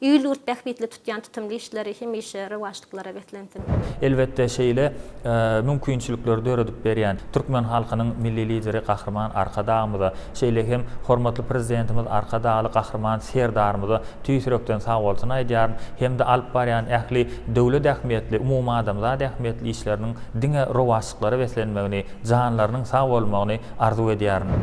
Il-ýurt bähbitli tutýan tutumly işleri hemişe rowaçlyklara beslensin! Elbetde, şeýle mümkinçilikleri döredip berýän türkmen halkynyň Milli Lideri Gahryman Arkadagymyza, şeýle hem hormatly Prezidentimiz Arkadagly Gahryman Serdarymyza tüýs ýürekden sagbolsun aýdýaryn hem-de alyp barýan ähli döwlet ähmiýetli, umumadamzat ähmiýetli işleriniň diňe rowaçlyklara beslenmegini, janlarynyň sag bolmagyny arzuw edýärin.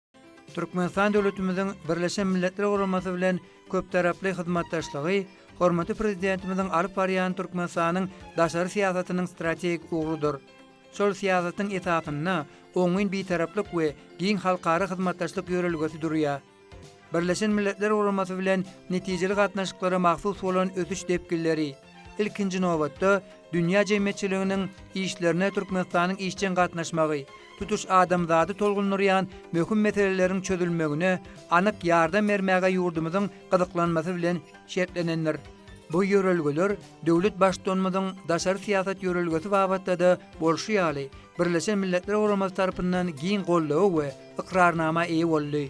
Türkmenistan döwletimiziň Birleşen Milletler Guramasy bilen köptaraply hyzmatdaşlygy hormatly Prezidentimiziň alyp barýan Türkmenistanyň daşary syýasatynyň strategik ugrudyr. Şol syýasatyň esasynda oňyn Bitaraplyk we giň halkara hyzmatdaşlyk ýörelgesi durýar. Birleşen Milletler Guramasy bilen netijeli gatnaşyklara mahsus bolan ösüş depginleri, Ilkinji nobatda, dünýä jemgyýetçiliginiň işlerine Türkmenistanyň işjeň gatnaşmagy, tutuş adamzady tolgundyrýan möhüm meseleleriň çözülmegine anyk ýardam bermäge ýurdumyzyň gyzyklanmasy bilen şertlenendir. Bu ýörelgeler döwlet Baştutanymyzyň daşary syýasat ýörelgesi babatda-da bolşy ýaly, Birleşen Milletler Guramasy tarapyndan giň goldawa we ykrarnama eýe boldy.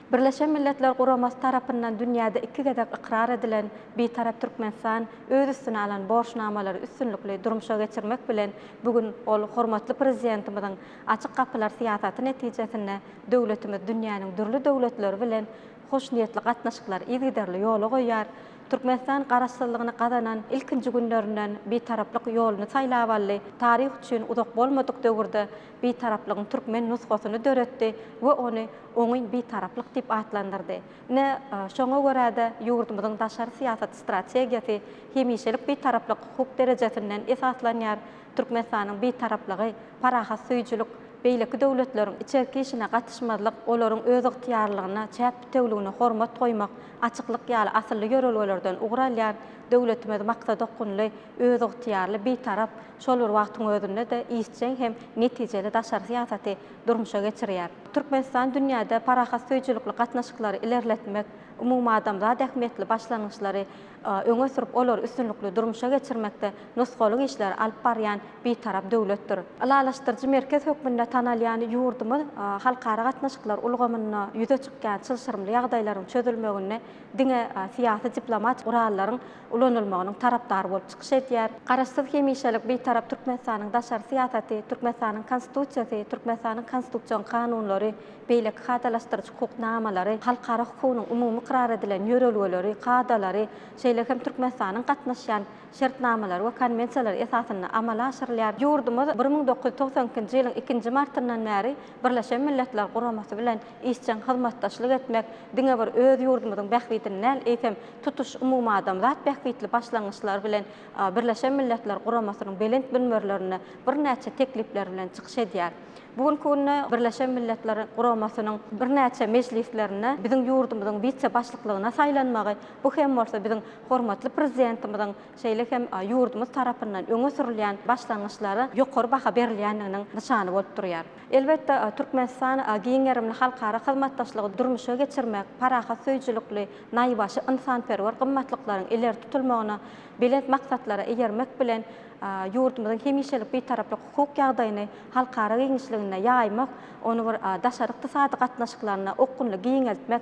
Birleşen Milletler Guramasy tarapyndan dünýäde iki gezek ykrar edilen Bitarap Türkmenistan öz üstüne alan borçnamalary üstünlikli durmuşa geçirmek bilen, bu gün ol hormatly Prezidentimiziň Açyk gapylar syýasaty netijesinde döwletimiz dünýäniň dürli döwletleri bilen hoşniýetli gatnaşyklary yzygiderli ýola goýýar, Türkmenistan Garaşsyzlygyny gazanan ilkinji günlerinden Bitaraplyk ýoluny saýlap aldy, taryh üçin uzak bolmadyk döwürde Bitaraplygyň türkmen nusgasyny döretdi we ony oňyn bitaraplyk diýip atlandyrdy. Ine, şoňa görä-de, ýurdumyzyň daşary syýasat strategiýasy hemişelik bitaraplyk hukuk derejesinden esaslanýar, Türkmenistanyň Bitaraplygy, parahatsöýüjilik, beýleki döwletleriň içerki işine gatyşmazlyk, olaryň özygtyýarlylygyna, çäk bitewüligine hormat goýmak, açyklyk ýaly asylly ýörelgelerden ugur alýar, döwletimiz maksadaokgunly, özygtyýarly, bitarap, Şol bir wagtyň özünde-de işjeň hem netijeli daşary syýasaty durmuşa geçirýär. Türkmenistan dünýäde parahatsöýüjilikli gatnaşyklary ilerletmek, umumadamzat ähmiýetli başlangyçlary öňe sürüp, olary üstünlikli durmuşa geçirmekde nusgalyk işleri alyp barýan Bitarap döwletdir. Ylalaşdyryjy merkez hökmünde tanalýan ýurdumyz halkara gatnaşyklar ulgamynda ýüze çykýan çylşyrymly ýagdaýlaryň çözülmeginde diňe syýasy-diplomatik gurallaryň ulanylmagynyň tarapdary bolup çykyş edýär. Garaşsyz, hemişelik Bitarap Türkmenistanyň daşary syýasaty, Türkmenistanyň Konstitusiýasy, Türkmenistanyň konstitusion kanunlary, beýleki kadalaşdyryjy hukuk namalary, halkara hukugynyň umumy ykrar edilen ýörelgeleri, kadalary, şeýle hem Türkmenistanyň gatnaşýan şertnamalary we konwensiýalary esasynda amala aşyrylýar. Ýurdumyz bir müň dokuz ýüz togsan ikinji ýylyň ikinji martyndan bäri Birleşen Milletler Guramasy bilen Işjeň hyzmatdaşlyk etmek diňe bir öz ýurdumyzyň bähbidini däl, eýsem, tutuş umumadamzat bähbitli başlangyçlary bilen Birleşen Milletler Guramasynyň belent münberlerinde birnäçe teklipleri bilen çykyş edýär. Bu günki günde Birleşen Milletler Guramasynyň birnäçe mejlislerinde biziň ýurdumyzyň wise-başlyklygyna saýlanmagy, bu hem bolsa biziň hormatly Prezidentimiziň, şeýle hem ýurdumyz tarapyndan öňe sürülýän başlangyçlara ýokary baha berilýändiginiň nyşany bolup durýar. Elbetde, Türkmenistan giň gerimli halkara hyzmatdaşlygy durmuşa geçirmek, parahat söýüjilikli, naýbaşy ynsanperwer gymmatlyklaryň ileri tutulmagyna, belent maksatlara eýermek bilen, ýurdumyzyň hemişelik Bitaraplyk hukuk ýagdaýyny halkara giňişliginde ýaýmak, ony bir daşary ykdysady gatnaşyklarynda okgunly giňeltmek,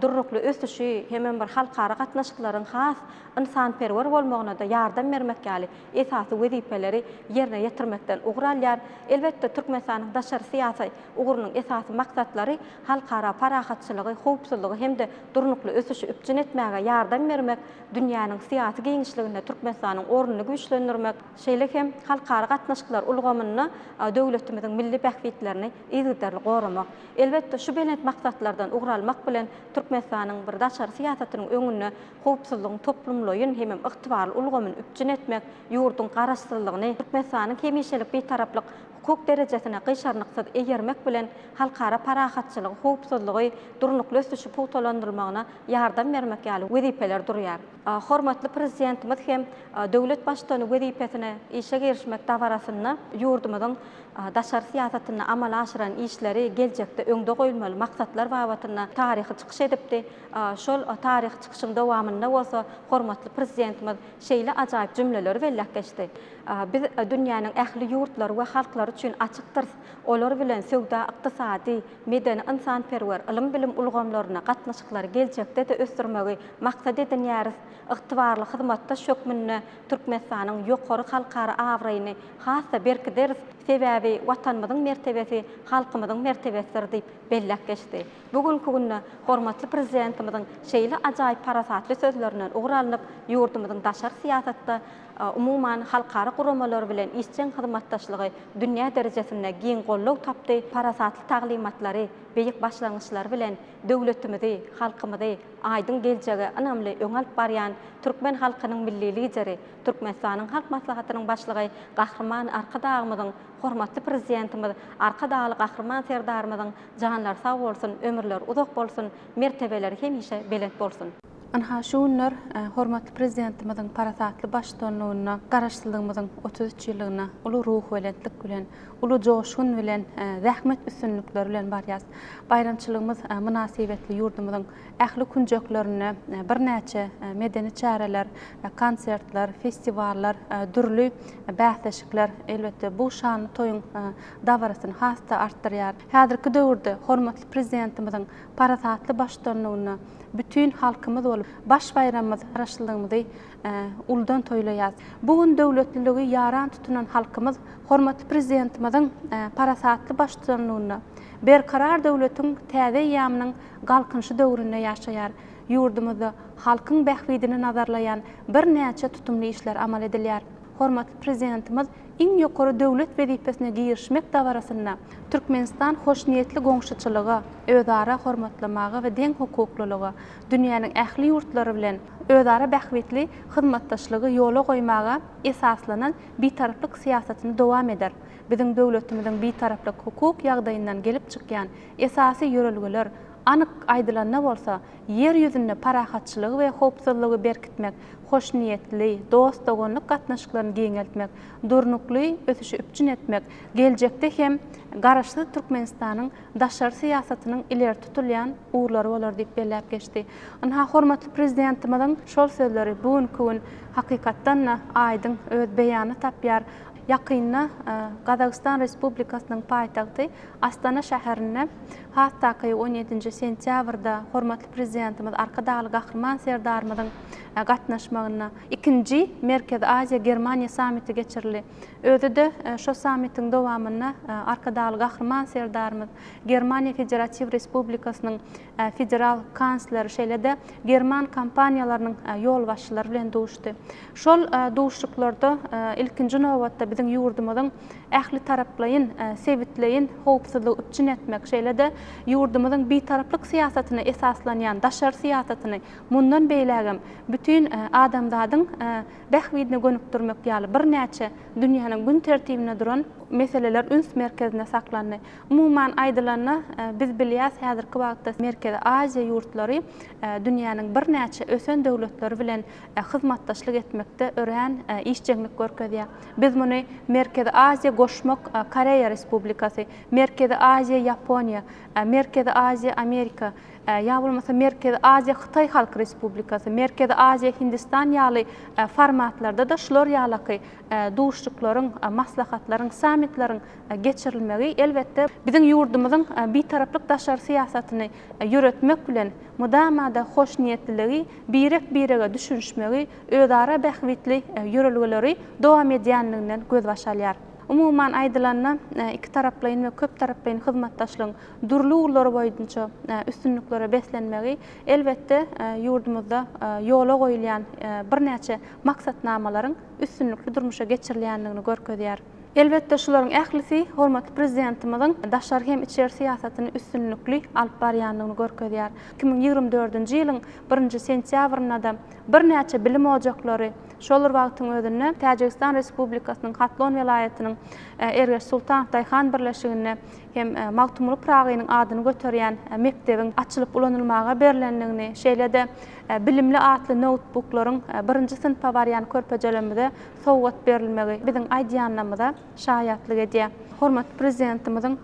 durnukly ösüşi hemem bir halkara gatnaşyklaryň has ynsanperwer bolmagyna-da ýardam bermek ýaly esasy wezipeleri ýerine ýetirmekden ugur alýar. Elbetde, Türkmenistanyň daşary syýasy ugrunyň esasy maksatlary halkara parahatçylygy, howpsuzlygy hem-de durnukly ösüşi üpjün etmäge ýardam bermek, dünýäniň syýasy giňişliginde Türkmenistanyň ornuny güýçlendirmek, şeýle hem halkara gatnaşyklar ulgamynda döwletimiziň milli bähbitlerini yzygiderli goramak. Elbetde, şu belent maksatlardan ugur almak bilen, Türkmenistanyň bir daşary syýasatynyň öňünde howpsuzlygyň toplumlaýyn hemem ygtybarly ulgamyny üpjün etmek, ýurduň Garaşsyzlygyny, Türkmenistanyň hemişelik Bitaraplyk hukuk derejesini gyşarnyksyz eýermek bilen, halkara parahatçylygy, howpsuzlygy, durnukly ösüşi pugtalandyrmagyna ýardam bermek ýaly wezipeler durýar. Hormatly Prezidentimiz hem döwlet Baştutany wezipesine işe girişmek dabarasynda ýurdumyzyň daşary syýasatynda amala aşyran işleri, geljekde öňde goýulmaly maksatlar babatynda taryhy çykyş edipdi. Şol taryhy çykyşyň dowamynda bolsa hormatly Prezidentimiz şeýle ajaýyp jümleleri belläp geçdi, Biz dünýäniň ähli ýurtlary we halklary üçin açykdyrys, olar bilen söwda-ykdysady, medeni-ynsanperwer, ylym-bilim ulgamlarynda gatnaşyklary geljekde-de ösdürmegi maksat edinýäris, ygtybarly hyzmatdaş hökmünde Türkmenistanyň ýokary halkara abraýyny has-da berkideris, sebäbi Watanymyzyň mertebesi halkymyzyň mertebesidir diýip belläp geçdi. Bu günki günde hormatly Prezidentimiziň şeýle ajaýyp parasatly sözlerinden ugur alnyp, ýurdumyzyň daşary syýasatda, umuman, halkara guramalary bilen işjeň hyzmatdaşlygy dünýä derejesinde giň goldaw tapdy, parasatly taglymatlary, beýik başlangyçlary bilen döwletimizi, halkymyzy aýdyň geljege ynamly öňe alyp barýan türkmen halkynyň Milli Lideri, Türkmenistanyň Halk Maslahatynyň Başlygy Gahryman Arkadagymyzyň Hormatly Prezidentimiz Arkadagly Gahryman Serdarymyzyň janlary sag bolsun, ömürleri uzak bolsun, mertebeleri hemişe belent bolsun! Ynha, şu günler hormatly Prezidentimiziň parasatly baştutanlygynda Garaşsyzlygymyzyň otuz üç ýyllygyna uly ruhubelentlik bilen, uly joşgun bilen, zähmet üstünlikleri bilen barýarys. Baýramçylygymyz mynasybetli ýurdumyzyň Ähli künjeklerinde birnäçe medeni çäreler, konsertler, festiwallar, dürli bäsleşikler, elbetde, bu şanly toýuň dabarasyny has-da artdyrýar. Häzirki döwürde hormatly Prezidentimiziň parasatly baştutanlygynda bütin halkymyz bolup, baş baýramymyz Garaşsyzlygymyzy uludan toýlaýarys. Bu gün döwletliligi ýaran tutunan halkymyz hormatly Prezidentimiziň parasatly baştutanlygynda Berkarar döwletiň täze eýýamynyň Galkynyşy döwründe ýaşaýar. Ýurdumyzda halkyň bähbidini nazarlaýan birnäçe tutumly işler amal edilýär. Hormatly Prezidentimiz iň ýokary döwlet wezipesine girişmek dabarasynda Türkmenistan hoşniýetli goňşuçylyga, özara hormatlamaga we deňhukuklylyga, dünýäniň ähli ýurtlary bilen özara bähbitli hyzmatdaşlygy ýola goýmaga esaslanan bitaraplyk syýasatyny dowam eder, biziň döwletimiziň bitaraplyk hukuk ýagdaýyndan gelip çykýan Esasy ýörelgeler, anyk aýdylanda bolsa, Ýer ýüzünde parahatçylygy we howpsuzlygy berkitmek, hoşniýetli, dost-doganlyk gatnaşyklaryny giňeltmek, durnukly ösüşi üpjün etmek, geljekde hem Garaşsyz Türkmenistanyň daşary syýasatynyň ileri tutulýan ugurlary bolar diýip belläp geçdi. Ynha, hormatly Prezidentimiziň şol sözleri bu günki gün hakykatdan-da aýdyň öz beýanyny tapýar. Ýakynda Gazagystan Respublikasynyň paýtagty Astana şäherinde has takygy on ýedinji sentýabrda hormatly Prezidentimiz Arkadagly Gahryman Serdarymyzyň gatnaşmagynda ikinji Merkezi Aziýa, Germaniýa sammiti geçirildi. Özi-de şo sammitiň dowamynda Arkadagly Gahryman Serdarymyz Germaniýa Federatiw Respublikasynyň Federal kansler şeýle-de german kompaniýalarynyň ýolbaşçylary bilen duşdy. Şol duşuşyklarda, ilkinji nobatda, biziň ýurdumyzyň ählitaraplaýyn sebitleýin howpsuzlygy üpjün etmek, şeýle-de ýurdumyzyň bitaraplyk syýasatyna esaslanýan daşary syýasatyny mundan beýlägem bütin adamzadyň bähbidine gönükdirmek ýaly birnäçe dünýäniň gün tertibinde duran meseleler üns merkezinde saklandy. Umuman aýdylanda, biz bilýäs, häzirki wagtda Merkezi Aziýa ýurtlary dünýäniň birnäçe ösen döwletleri bilen hyzmatdaşlyk etmekde örän işjeňlik görkezýär. Biz muny Merkezi Aziýa, Goşmak Koreýa Respublikasy, Merkezi Aziýa, Ýaponiýa, Merkezi Aziýa, Amerika, ýa bolmasa Merkezi Aziýa, Hytaý Halk Respublikasy, Merkezi Aziýa, Hindistan ýaly formatlarda-da şular ýalaky duşuşyklaryň, maslahatlaryň, sammitleriň geçirilmegi, elbetde, biziň ýurdumyzyň Bitaraplyk daşary syýasatyny ýöretmek bilen mydama-da hoşniýetliligi, birek-birege düşünişmegi, özara bähbitli ýörelgeleri dowam edýänliginden gözbaş alýar. Umuman aýdylanda, ikitaraplaýyn we köptaraplaýyn hyzmatdaşlygyň dürli ugurlary boýunça üstünliklere beslenmegi, elbetde, ýurdumyzda ýola goýulýan birnäçe maksatnamalaryň üstünlikli durmuşa geçirilýänligini görkezýär. Elbetde, şularyň ählisi hormatly Prezidentimiziň daşary hem içeri syýasatyny üstünlikli alyp barýandygyny görkezýär. Iki müň ýigrimi dördünji ýylyň birinji sentýabrynda-da birnäçe bilim ojaklary, şol bir wagtyň özünde Täjigistan Respublikasynyň Hatlon welaýatynyň Ergeş Sultanow daýhan birleşiginde hem Magtymguly Pyragynyň adyny göterýän mekdebiň açylyp ulanylmaga berlendigini, şeýle-de bilimli atly noutbuklaryň birinji synpa barýan körpejelerimize sowgat berilmegi biziň aýdýanymyza şaýatlyk edýär. Hormatly Prezidentimiziň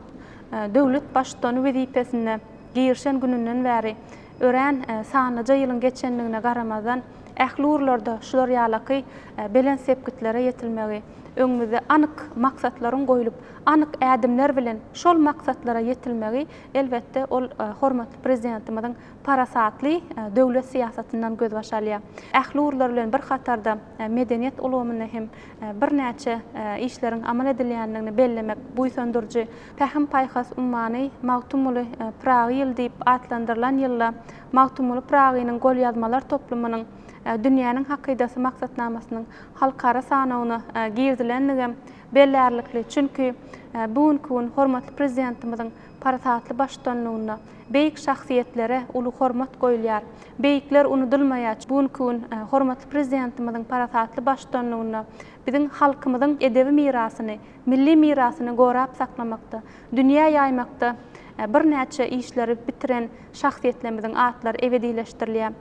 döwlet Baştutany wezipesine girişen gününden bäri örän sanlyja ýylyň geçendigine garamazdan, ähli ugurlarda şular ýalaky belent sepgitlere ýetilmegi, öňümizde anyk maksatlaryň goýlup, anyk ädimler bilen şol maksatlara ýetilmegi, elbetde, ol hormatly Prezidentimiziň parasatly döwlet syýasatyndan gözbaş alýar. Ähli ugurlar bilen bir hatarda medeniýet ulgamynda hem birnäçe işleriň amal edilýändigini bellemek buýsandyryjy. Pähim-paýhas ummany Magtymguly Pyragy ýyly diýip atlandyrylan ýylda Magtymguly Pyragynyň golýazmalar toplumynyň Dünýäniň hakydasy maksatnamasynyň halkara sanawyna girizilendigem bellärlikli, çünki bu günki gün hormatly Prezidentimiziň Parasatly baştutanlygynda beýik şahsyýetlere uly hormat goýulýar. Beýikler unudylmaýar. Bu günki gün hormatly Prezidentimiziň parasatly baştutanlygynda biziň halkymyzyň edebi mirasyny, milli mirasyny gorap saklamakda, dünýä ýaýmakda birnäçe işleri bitiren şahsyýetlerimiziň atlary ebedileşdirilýär.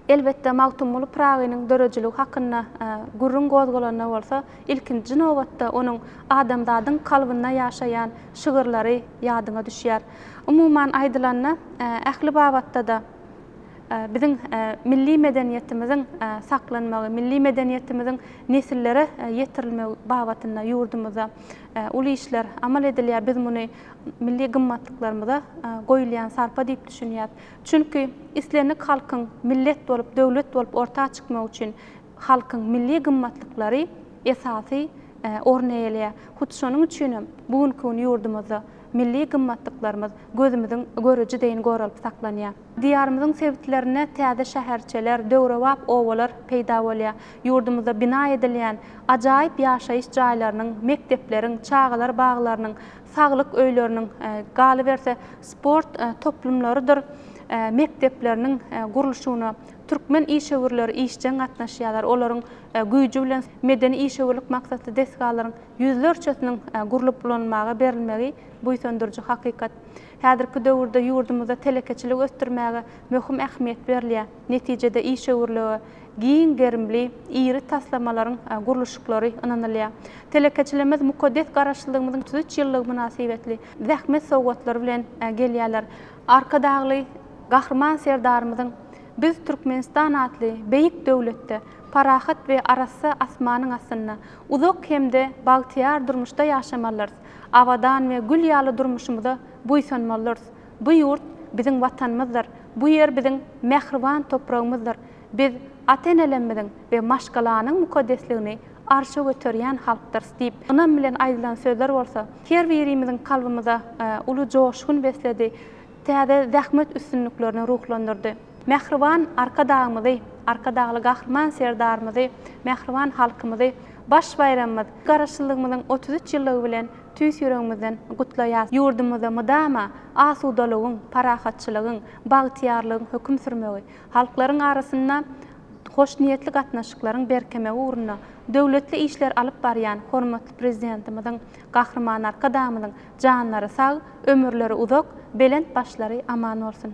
Elbetde, Magtymguly Pyragynyň döredijiligi hakynda gürrüň gozgalanda bolsa, ilkinji nobatda onuň adamzadyň kalbynda ýaşaýan şygyrlary ýadyňa düşýär. Umuman aýdylanda, ähli babatda-da biziň milli medeniýetimiziň saklanmagy, milli medeniýetimiziň nesillere ýetirilmegi babatynda ýurdumyzda uly işler amal edilýär. Biz muny milli gymmatlyklarymyza goýulýan sarpa diýip düşünýäs. Çünki islendik halkyň millet bolup, döwlet bolup orta çykmagy üçin halkyň milli gymmatlyklary esasy orun eýeleýär. Hut şonuň üçin hem bu günki gün ýurdumyzda milli gymmatlyklarymyz gözümiziň göreji deýin goralyp saklanýar. Diýarymyzyň sebitlerinde täze şäherçeler, döwrebap obalar peýda bolýar. Ýurdumyzda bina edilýän ajaýyp ýaşaýyş jaýlarynyň, mekdepleriň, çagalar baglarynyň saglyk öýleriniň, galyberse, sport toplumlarydyr mekdepleriniň gurluşygyna türkmen işewürleri işjeň gatnaşýarlar, olaryň güýji bilen medeni işewürlik maksatly desgalaryň ýüzlerçesiniň gurlup ulanmaga berilmegi buýsandyryjy hakykat. Häzirki döwürde ýurdumyzda telekeçiligi ösdürmäge möhüm ähmiýet berilýär. Netijede işewürlige giň gerimli, iri taslamalaryň gurluşyklary ynanylýar. Telekeçilerimiz mukaddes Garaşsyzlygymyzyň otuz üç ýyllygy mynasybetli zähmet sowgatlary bilen gelýärler. Arkadagly Gahryman Serdarymyzyň Biz, Türkmenistan atly beýik döwletde, parahat we arassa asmanyň astynda, uzak hem-de bagtyýar durmuşda ýaşamalyrys, abadan we gül ýaly durmuşymyza buýsanmalyrys, Bu ýurt biziň Watanymyzdyr, bu ýer biziň mähriban topragymyzdyr. Biz ata-enelerimiziň we maşgalanyň mukaddesligini arşa göterýän halkdyrys diýip, ynam bilen aýdylan sözler bolsa, her birimiziň kalbymyza uly joşgun besledi, täze zähmet üstünliklerini ruhlandyrdy. Mähriban Arkadagymyzy, Arkadagly Gahryman Serdarymyzy, mähriban halkymyzy baş baýramymyz, Garaşsyzlygymyzyň otuz üç ýyllygy bilen tüýs ýüregimizden gutlaýas. Ýurdumyzda mydama asudalygyň, parahatçylygyň, bagtyýarlygyň höküm sürmegi, halklaryň arasynda hoşniýetli gatnaşyklaryň berkemegi ugrunda döwletli işleri alyp barýan hormatly Prezidentimiziň, Gahryman Arkadagymyzyň janlary sag, ömürleri uzak, belent başlary aman bolsun!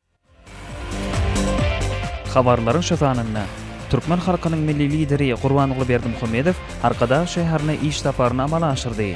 Habarlaryň şu sanynda türkmen halkynyň Milli Lideri Gurbanguly Berdimuhamedow Arkadag şäherine iş saparyny amala aşyrdy.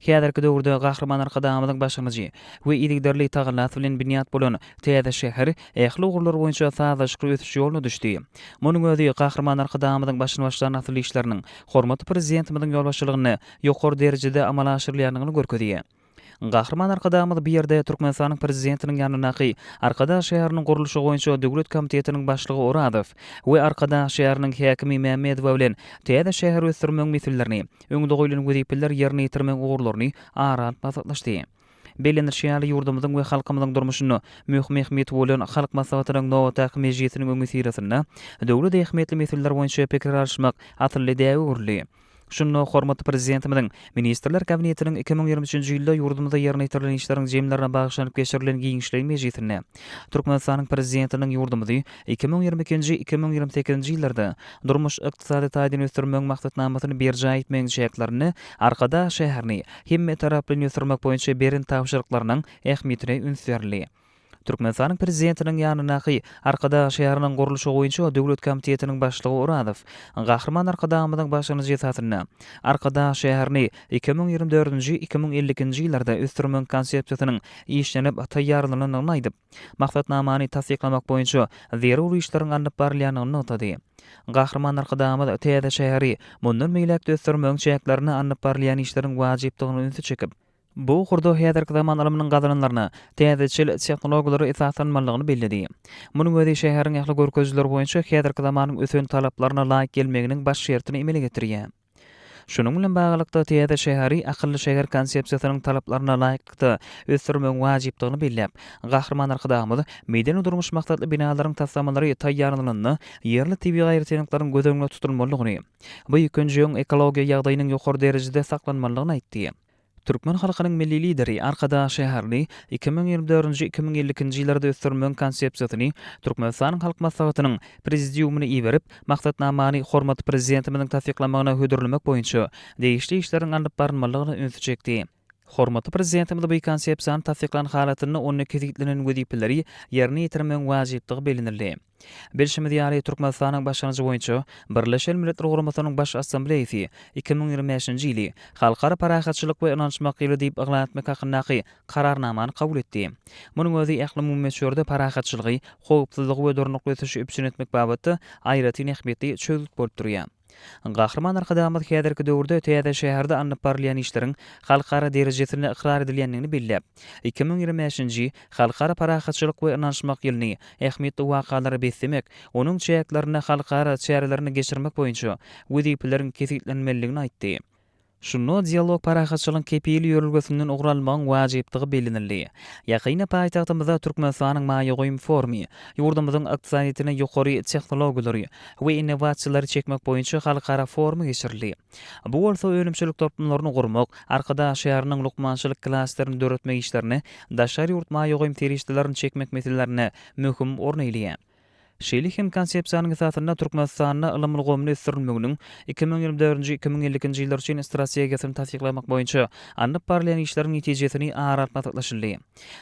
Häzirki döwürde Gahryman Arkadagymyzyň başlangyjy we yzygiderli tagallasy bilen binýat bolan täze şäher ähli ugurlar boýunça sazlaşykly ösüş ýoluna düşdi. Munuň özi Gahryman Arkadagymyzyň başyny başlan asylly işleriniň hormatly Prezidentimiziň ýolbaşçylygynda ýokary derejede amala aşyrylýandygyny görkezýär. Gahryman Arkadagymyz bu ýerde Türkmenistanyň Prezidentiniň ýanyndaky Arkadag şäheriniň gurluşygy boýunça döwlet komitetiniň başlygy Orazow we Arkadag şäheriniň häkimi Mämmedowa bilen täze şäheri ösdürmegiň meselelerini öňde goýlan wezipeler ýerine ýetirmegiň ugurlaryny ara alyp maslahatlaşdy. Bellenilişi ýaly, ýurdumyzyň we halkymyzyň durmuşynda möhüm ähmiýeti bolan Halk Maslahatynyň nobatdaky mejlisiniň öňüsyrasynda döwlet ähmiýetli meseleler boýunça pikir alyşmak asylly däbe öwrüldi. Şunda hormatly Prezidentimiziň Ministrler Kabinetiniň iki müň ýigrimi üçünji ýylda ýurdumyzda ýerine ýetirilen işleriň jemlerine bagyşlanyp geçirilen giňişleýin mejlisinde, Türkmenistanyň Prezidentiniň ýurdumyzy iki müň ýigrimi ikinji, iki müň ýigrimi sekizinji ýyllarda durmuş-ykdysady taýdan ösdürmegiň maksatnamasyny berjaý etmegiň çäklerinde Arkadag şäherini hemmetaraplaýyn ösdürmek boýunça beren tabşyryklarynyň ähmiýetine üns berildi. Türkmenistanyň Prezidentiniň ýanyndaky Arkadag şäheriniň gurluşy boýunça döwlet komitetiniň başlygy Orazow Gahryman Arkadagymyzyň başlangyjy esasynda, Arkadag şäherini iki müň ýigrimi dördünji, iki müň elli ikinji ýyllarda ösdürmegiň konsepsiýasynyň işlenip taýýarlanandygyny aýdyp, maksatnamany tassyklamak boýunça zerur işleriň alnyp barylýandygyny nygtady. Gahryman Arkadagymyz täze şäheri mundan beýläk-de ösdürmegiň çäklerinde alnyp barylýan işleriň wajypdygyna ünsi çekip, bu ugurda häzirki zaman ylmynyň gazananlaryna, täzeçil tehnologiýalara esaslanmalydygyny belledi. Munuň özi şäheriň ähli görkezijileri boýunça häzirki zamanyň ösen talaplaryna laýyk gelmeginiň baş şertini emele getirýär. Şunuň bilen baglylykda, täze şäheri akylly şäher konsepsiýasynyň talaplaryna laýyklykda ösdürmegiň wajypdygyny belläp, Gahryman Arkadagymyz, Medeni-durmuş maksatly binalaryň taslamalary taýýarlanylanda ýerli tebigy aýratynlyklaryň göz öňünde tutulmalydygyny, bu ýygjyň ekologiýa ýagdaýynyň ýokary derejede saklanmalydygyny aýtdy. Türkmen halkynyň Milli Lideri Arkadag şäherini iki müň ýigrimi dördünji-iki müň elli ikinji ýyllarda ösdürmegiň Konsepsiýasyny Türkmenistanyň Halk Maslahatynyň Prezidiumyna iberip, Maksatnamany hormatly Prezidentimiziň tassyklamagyna hödürlemek boýunça degişli işleriň alnyp barylmalydygyna ünsi çekdi. Hormatly Prezidentimiz bu Konsepsiýany tassyklan halatynda onda kesgitlenen wezipeleri ýerine ýetirmegiň wajypdygy bellenildi. Bilşimiz ýaly, Türkmenistanyň başlangyjy boýunça Birleşen Milletler Guramasynyň Baş Assambleýasy iki müň ýigrimi bäşinji ýyly Halkara parahatçylyk we ynanyşmak ýyly diýip yglan etmek hakyndaky Kararnamany kabul etdi. Munuň özi ählumumy möçberde parahatçylygy, howpsuzlygy we durnukly ösüşi üpjün etmek babatda aýratyn ähmiýetli çözgüt bolup durýar. Gahryman Arkadagymyz häzirki döwürde täze şäherde alnyp barylýan işleriň halkara derejesinde ykrar edilýändigini belläp, iki müň ýigrimi bäşinji Halkara parahatçylyk we ynanyşmak ýylyny ähmiýetli wakalara beslemek, onuň çäklerinde halkara çärelerini geçirmek boýunça wezipeleriň kesgitlenmelidigini aýtdy. Şunda Dialog parahatçylygyň kepili ýörelgesinden ugur almagyň wajypdygy bellenildi. Ýakynda paýtagtymyzda Türkmenistanyň maýa goýum forumy ýurdumyzyň ykdysadyýetine ýokary tehnologiýalary we innowasiýalary çekmek boýunça halkara forumy geçirildi. Bu bolsa önümçilik toplumlaryny gurmak, Arkadag şäheriniň lukmançylyk klasterini döretmek işlerine daşary ýurt maýa goýum serişdelerini çekmek meselelerinde möhüm orun eýleýär. Şeýle hem Konsepsiýanyň esasynda Türkmenistanda ylym ulgamyny ösdürilmeginiň iki müň ýigrimi dördünji-iki müň elli ikinji ýyllar üçin strategiýasyny tassyklamak boýunça alnyp barylýan işleriň netijesini ara alyp maslahatlaşyldy.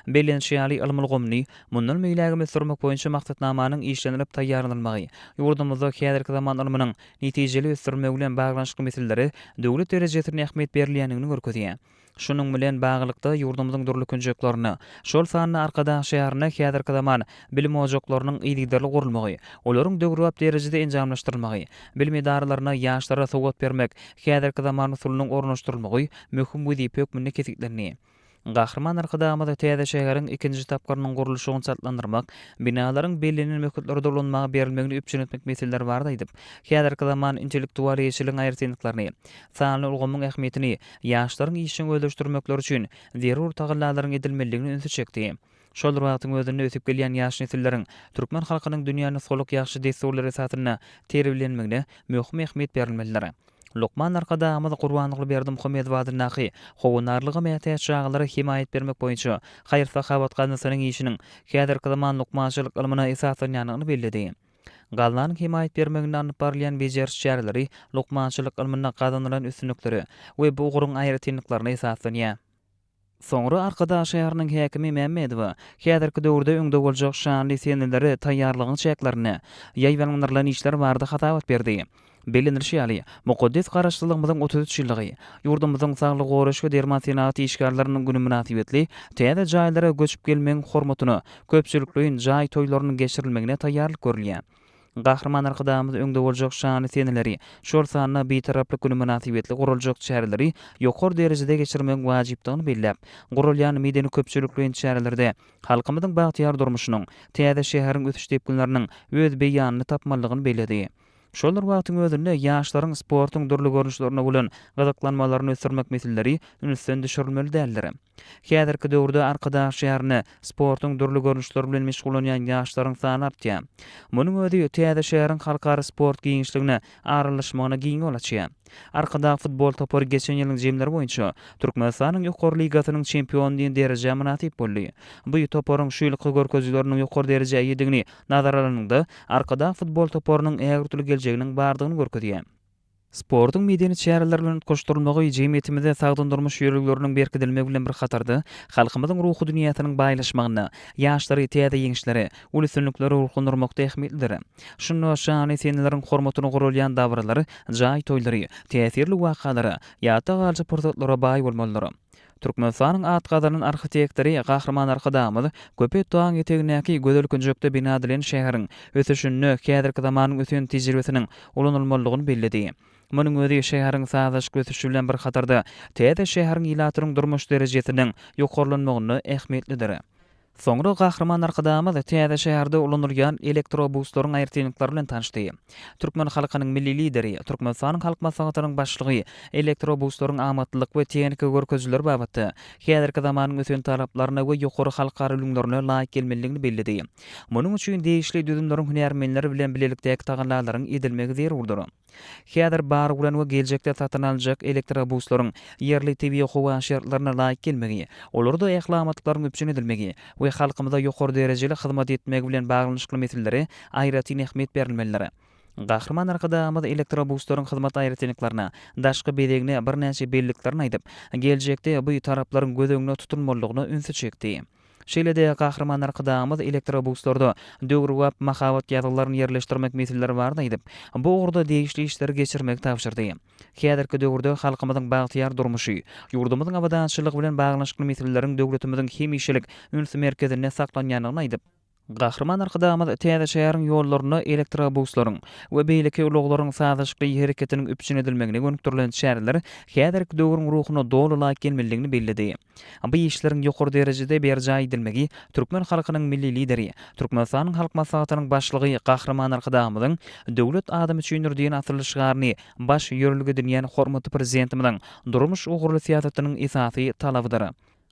Bellenişi ýaly, ylym ulgamyny mundan beýlägem ösdürmek boýunça maksatnamanyň işlenilip taýýarlanylmagy ýurdumyzda häzirki zaman ylmynyň netijeli ösdürilmegi bilen baglanyşykly meselelere döwlet derejesinde ähmiýet berilýändigini görkezýär. Şunuň bilen baglylykda, ýurdumyzyň dürli künjeklerinde, şol sanda Arkadag şäherinde häzirki zaman bilim ojaklarynyň yzygiderli gurulmagy, olaryň döwrebap derejede enjamlaşdyrylmagy, bilim edaralarynda ýaşlara sowat bermek häzirki zaman usulynyň ornaşdyrylmagy möhüm wezipe hökmünde kesgitlendi. Gahryman Arkadagymyz täze şäheriň ikinji tapgyrynyň gurluşygyny çaltlandyrmak, binalaryň bellenen möhletlerde ulanmaga berilmegini üpjün etmek meseleleri barada aýdyp, häzirki zaman intellektual eýeçiligiň aýratynlyklaryny, sanly ulgamyň ähmiýetini ýaşlaryň işjeň özleşdirmekleri üçin zerur tagallalaryň edilmelidigine ünsi çekdi. Şol bir wagtyň özünde ösüp gelýän ýaş nesilleriň türkmen halkynyň dünýä nusgalyk ýagşy dessurlary esasynda terbiýelenmegine möhüm ähmiýet berilmelidir. Lukman Arkadagymyz Gurbannurly Berdimuhamedow adyndaky Howandarlyga mätäç çagalara hemaýat bermek boýunça haýyr-sahawat gaznasynyň işiniň häzirki zaman lukmançylyk ylmyna esaslanýandygyny belledi. Gaznanyň hemaýat bermeginde alnyp barylýan bejeriş çäreleri lukmançylyk ylmynda gazanylan üstünliklere we bu ugruň aýratynlyklaryna esaslanýar. Soňra Arkadag şäheriniň häkimi Mämmedowa häzirki döwürde öňde boljak şanly senelere taýýarlygyň çäklerinde ýaýbaňlandyrylan işler barada hasabat berdi. Bellenilişi ýaly, mukaddes Garaşsyzlygymyzyň otuz üç ýyllygy, ýurdumyzyň saglygy goraýyş we derman senagat işgärleriniň güni mynasybetli täze jaýlara göçüp gelmegiň hormatyna köpçülikleýin jaý toýlarynyň geçirilmegine taýýarlyk görülýär. Gahryman Arkadagymyz öňde boljak şanly seneleri, şol sanda Bitaraplyk güni mynasybetli guraljak çäreleri ýokary derejede geçirmegiň wajypdygyny belläp, guralýan medeni-köpçülikleýin çärelerde halkymyzyň bagtyýar durmuşynyň, täze şäheriň ösüş depginleriniň öz beýanyny tapmalydygyny belledi. Şol bir wagtyň özünde ýaşlaryň sportuň dürli görnüşlerine bolan gyzyklanmalaryny ösdürmek meseleleri ünsden düşürilmeli däldir. Häzirki döwürde Arkadag şäherinde sportuň dürli görnüşleri bilen meşgullanýan ýaşlaryň sany artýar. Munuň özi täze şäheriň halkara sport giňişligine aralaşmagyna giň ýol açýar. Arkadag futbol topary geçen ýylyň jemleri boýunça Türkmenistanyň Ýokary ligasynyň çempiony diýen derejä mynasyp boldy. Bu toparyň şu ýylky görkezijileriniň ýokary derejä eýedigini nazara alanyňda, Arkadag futbol toparynyň ägöwtüli geljeginiň bardygyny görkezýär. Sportuň medeni çäreler bilen utgaşdyrylmagy jemgyýetimizde sagdyn durmuş ýörelgeleriniň berkidilmegi bilen bir hatarda, halkymyzyň ruhy dünýäsiniň baýlaşmagyna, ýaşlary täze ýeňişlere, uly üstünliklere ruhlandyrmakda ähmiýetlidir. Şunda şan-esenleriň hormatyna guralýan dabaralar, jaý toýlary, täsirli wakalara, ýatda galyjy pursatlara baý bolmalydyr. Türkmenistanyň at gazanan arhitektory Gahryman Arkadagymyz Köpet dagyň etegindäki gözel künjekde bina edilen şäheriň ösüşinde häzirki zamanyň ösen tejribesiniň ulanylmalydygyny belledi. Munuň özi şäheriň sazlaşykly ösüşi bilen bir hatarda täze şäheriň ilatynyň durmuş derejesiniň ýokarlanmagynda ähmiýetlidir. Soňra Gahryman Arkadagymyz täze şäherde ulanylýan elektrobuslaryň aýratynlyklary bilen tanyşdy. Türkmen halkynyň Milli Lideri, Türkmenistanyň Halk Maslahatynyň Başlygy elektrobuslaryň amatlylyk we tehniki görkezijileri babatda häzirki zamanyň ösen talaplaryna we ýokary halkara ülňülerine laýyk gelmelidigini belledi. Munuň üçin degişli düzümleriň hünärmenleri bilen bilelikdäki tagallalaryň edilmegi zerurdyr. Häzir bar bolan we geljekde satyn aljak elektrobuslaryň ýerli tebigy-howa şertlerine laýyk gelmegi, olarda ähli amatlyklaryň üpjün edilmegi we halkymyza ýokary derejeli hyzmat etmegi bilen baglanyşykly meselelere aýratyn ähmiýet berilmelidir. Gahryman Arkadagymyz elektrobuslaryň hyzmat aýratynlyklaryna, daşky bezegine, birnäçe belliklerine aýdyp, geljekde bu taraplaryň göz öňünde tutulmalydygyna ünsi çekdi. Şeýle-de, Gahryman Arkadagymyz elektrobuslarda döwrebap mahabat ýazgylaryny ýerleşdirmek meseleleri barada aýdyp, bu ugurda degişli işleri geçirmegi tabşyrdy. Häzirki döwürde halkymyzyň bagtyýar durmuşy, ýurdumyzyň abadançylygy bilen baglanyşykly meseleleriň döwletimiziň hemişelik üns merkezinde saklanýandygyny aýdyp, Gahryman Arkadagymyz täze şäheriň ýollarynda elektrobuslaryň we beýleki ulaglaryň sazlaşykly hereketiniň üpjün edilmegine gönükdirilen çäreler häzirki döwrüň ruhuna doly laýyk gelmelidigini belledi. Bu işleriň ýokary derejede berjaý edilmegi türkmen halkynyň Milli Lideri, Türkmenistanyň Halk Maslahatynyň Başlygy Gahryman Arkadagymyzyň Döwlet adam üçindir! diýen asylly şygaryny baş ýörelge edinýän hormatly Prezidentimiziň durmuş ugurly syýasatynyň esasy talabydyr.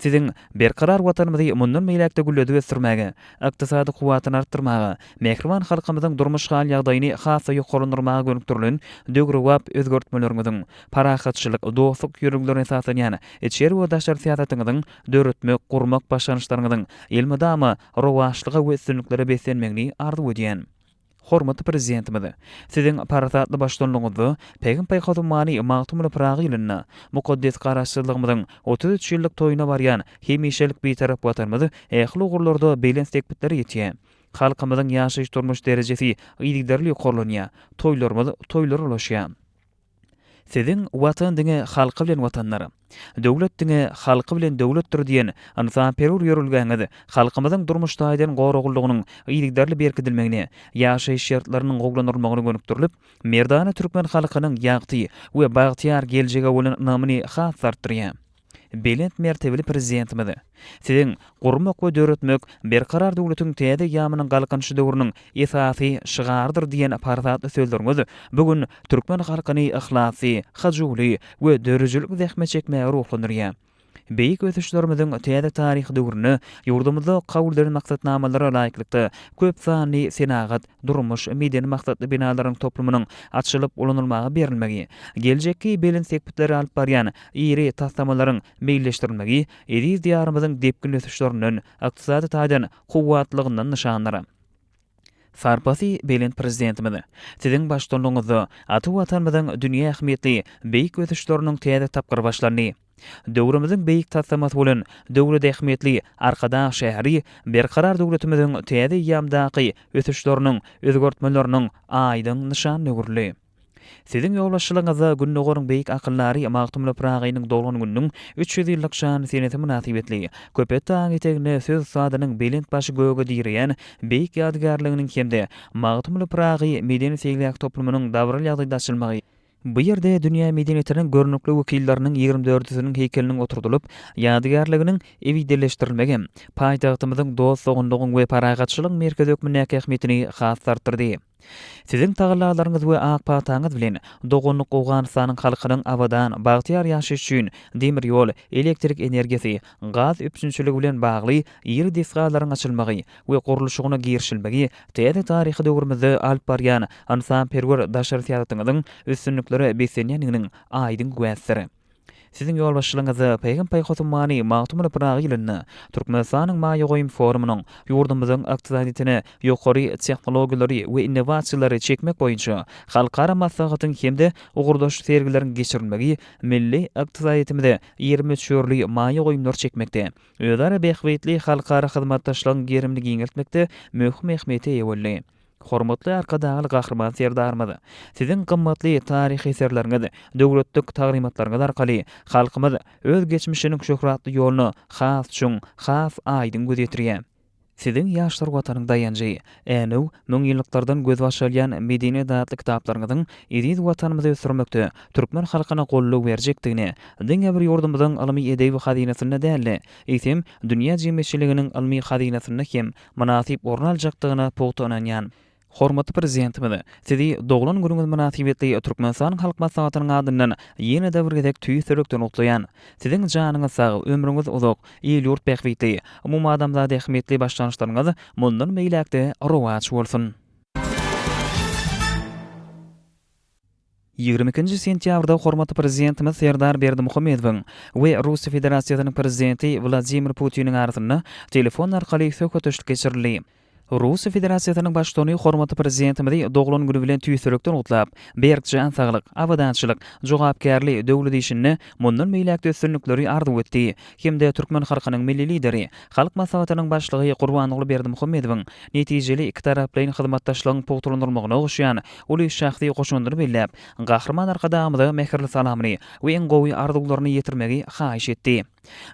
Siziň berkarar Watanymyzy mundan beýläk-de gülledip ösdürmäge, ykdysady kuwwatyny artdyrmaga, mähriban halkymyzyň durmuş hal-ýagdaýyny has-da ýokarlandyrmaga gönükdirilen döwrebap özgertmeleriňiziň, parahatçylyk, dostluk ýörelgelerine esaslanýan içeri we daşary syýasatyňyzyň, döretmek, gurmak başlangyçlaryňyzyň elmydama rowaçlyga we üstünliklere beslenmegini arzuw edýän. Hormatly Prezidentimiz Siziň parasatly baştutanlygyňyzda Pähim paýhasumany Magtymguly Pyragy ýylynda mukaddes Garaşsyzlygymyzyň otuz üç ýyllyk toýuna barýan hemişelik Bitarap Watanymyz ähli ugurlarda belent sepgitlere ýetýär. Halkymyzyň ýaşaýyş-durmuş derejesi yzygiderli ýokarlanýar, toýlarymyz toýlara ulaşýar. Siziň Watan diňe halky bilen Watandyr, döwlet diňe halky bilen döwletdir diýen ynsanperwer ýörelgäňiz halkymyzyň durmuş taýdan goraglylygynyň yzygiderli berkidilmegine, ýaşaýyş şertleriniň gowulandyrylmagyna gönükdirilip, merdana türkmen halkynyň ýagty we bagtyýar geljege bolan ynamyny has-da artdyrýar. Belent mertebeli Prezidentimiz Siziň Gurmak we döretmek Berkarar döwletiň täze ýamynyň Galkynyşy döwrüniň esasy şygarydyr diýen parasatly sözleriňiz bu gün türkmen halkyny yhlasly, hyjuwly we döredijilik zähmet çekmäge ruhlandyrýar. Beýik ösüşlerimiziň täze taryhy döwründe ýurdumyzda kabul edilen maksatnamalara laýyklykda köp sanly senagat, durmuş, medeni maksatly binalaryň toplumynyň açylyp ulanylmaga berilmegi, geljekki belent sepgitlere alyp barýan iri taslamalaryň meýilleşdirilmegi eziz Diýarymyzyň depginli ösüşlerinden, ykdysady taýdan kuwwatlylygyndan nyşandyr. Sarpasy belent Prezidentimiz, Siziň baştutanlygyňyzda ata Watanymyzyň dünýä ähmiýetli beýik ösüşleriniň täze tapgyry başlandy. Döwrümiziň beýik taslamasy bolan döwlet ähmiýetli Arkadag şäheri Berkarar döwletimiziň täze eýýamdaky ösüşleriniň, özgertmeleriniň aýdyň nyşanyna öwrüldi. Siziň ýolbaşçylygyňyzda Gündogaryň beýik akyldary Magtymguly Pyragynyň doglan gününiň üç ýüz ýyllyk şanly senesi mynasybetli Köpetdag dagy eteginde söz ussadynyň belent başy göge direýän beýik ýadygärliginiň hem-de Magtymguly Pyragy medeni-seýilgäh toplumynyň dabaraly ýagdaýda açylmagy Bu ýerde dünýä medeniýetiniň görnükli wekilleriniň ýigrimi dördüsiniň heýkeliniň oturdylyp, ýadygärliginiň ebedileşdirilmegi hem paýtagtymyzyň dost-doganlygyň we parahatçylygyň merkezi hökmündäki ähmiýetini has-da artdyrdy. Siziň tagallalaryňyz we ak pataňyz bilen doganlyk Owganystanyň halkynyň abadan, bagtyýar ýaşaýşy üçin demir ýol, elektrik energiýasy, gaz üpjünçiligi bilen bagly iri desgalaryň açylmagy we gurluşygyna girişilmegi Täze taryhy döwrümizde alyp barýan ynsanperwer daşary syýasatyňyzyň üstünliklere beslenýändiginiň aýdyň güwäsidir. Siziň ýolbaşçylygyňyzda Paýham-paý Hotummany Magtymguly Pyragy ýylynda Türkmenistanyň maýa goýum forumynyň ýurdumyzyň ykdysadyýetine ýokary tehnologiýalary we innowasiýalary çekmek boýunça halkara maslahatyň hem-de ugurdaş sergileriň geçirilmegi milli ykdysadyýetimize iri möçberli maýa goýumlar çekmekde özara bähbitli halkara hyzmatdaşlygyň gerimini giňeltmekde möhüm ähmiýete eýe boldy. Hormatly Arkadagly Gahryman Serdarymyz, Siziň gymmatly taryhy eserleriňiz, döwletlik taglymatlaryňyz arkaly halkymyz öz geçmişiniň şöhratly ýoluna has çuň, has aýdyň göz ýetirýär. Siziň ýaşlar Watanyň daýanjy, Änew, müňýyllyklardan gözbaş alýan medeni datly kitaplaryňyzyň eziz Watanymyzy ösdürmekde türkmen halkyna goldaw berjekdigini diňe bir ýurdumyzyň ylmy-edebi hazynasynda däl-de, eýsem, dünýä jemgyýetçiliginiň ylmy hazynasynda hem mynasyp orun aljakdygyna pugta ynanýan. Hormatly Prezidentimiz, Sizi doglan günüňiz mynasybetli Türkmenistanyň Halk Maslahatynyň adyndan ýene-de bir gezek tüýs ýürekden gutlaýan. Siziň janyňyz sag, ömrüňiz uzak, il-ýurt bähbitli, umumadamzat ähmiýetli başlangyçlaryňyz mundan beýläk-de rowaç bolsun! Ýigrimi ikinji sentýabrda hormatly Prezidentimiz Serdar Berdimuhamedowyň we Russiýa Federasiýasynyň Prezidenti Wladimir Putiniň arasynda telefon arkaly söhbetdeşlik geçirildi. Russiýa Federasiýasynyň Baştutany hormatly Prezidentimizi doglan güni bilen tüýsürekden gutlap, berk jan saglyk, abadançylyk, jogapkärli döwlet işinde mundan beýläk-de üstünlikleri arzuw etdi hem-de türkmen halkynyň Milli Lideri, Halk Maslahatynyň Başlygy Gurbanguly Berdimuhamedowyň netijeli ikitaraplaýyn hyzmatdaşlygyň pugtalandyrylmagyna goşýan uly şahsy goşandyny belläp, Gahryman Arkadagymyza mähirli salamyny we iň gowy arzuwlaryny ýetirmegi haýyş etdi.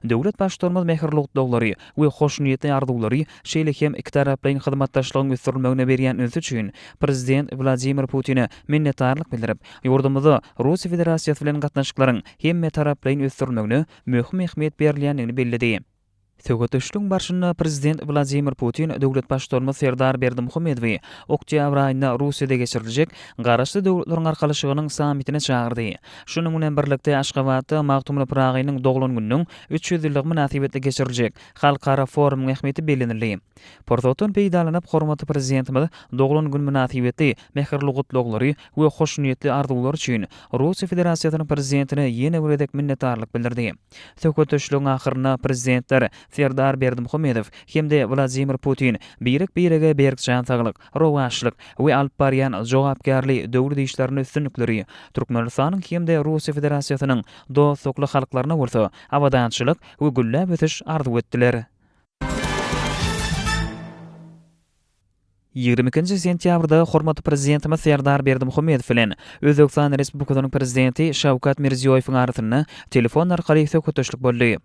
Döwlet Baştutanymyz mähirli gutlaglary we hoşniýetli arzuwlary, şeýle hem ikitaraplaýyn hyzmatdaşlygyň ösdürilmegine berýän ünsi üçin Prezident Wladimir Putine minnetdarlyk bildirip, ýurdumyzda Russiýa Federasiýasy bilen gatnaşyklaryň hemmetaraplaýyn ösdürilmegine möhüm ähmiýet berilýändigini belledi. Söhbetdeşligiň barşynda Prezident Wladimir Putin döwlet Baştutanymyz Serdar Berdimuhamedowy oktýabr aýynda Russiýada geçiriljek Garaşsyz Döwletleriň Arkalaşygynyň sammitine çagyrdy. Şunuň bilen birlikde, Aşgabatda Magtymguly Pyragynyň doglan gününiň üç ýüz ýyllygy mynasybetli geçiriljek halkara forumyň ähmiýeti bellenildi. Pursatdan peýdalanyp, hormatly Prezidentimiz doglan gün mynasybetli mähirli gutlaglary we hoşniýetli arzuwlary üçin Russiýa Federasiýasynyň Prezidentine ýene bir gezek minnetdarlyk bildirdi. Söhbetdeşligiň ahyrynda Prezidentler Serdar Berdimuhamedow hem-de Wladimir Putin birek-birege berk jan saglyk, rowaçlyk we alyp barýan jogapkärli döwlet işlerinde üstünlikleri, Türkmenistanyň hem-de Russiýa Federasiýasynyň dostlukly halklaryna bolsa abadançylyk we gülläp ösüş arzuw etdiler. Ýigrimi ikinji sentýabrda hormatly Prezidentimiz Serdar Berdimuhamedow bilen Özbegistan Respublikasynyň Prezidenti Şawkat Mirziýoýewiň arasynda telefon arkaly söhbetdeşlik boldy.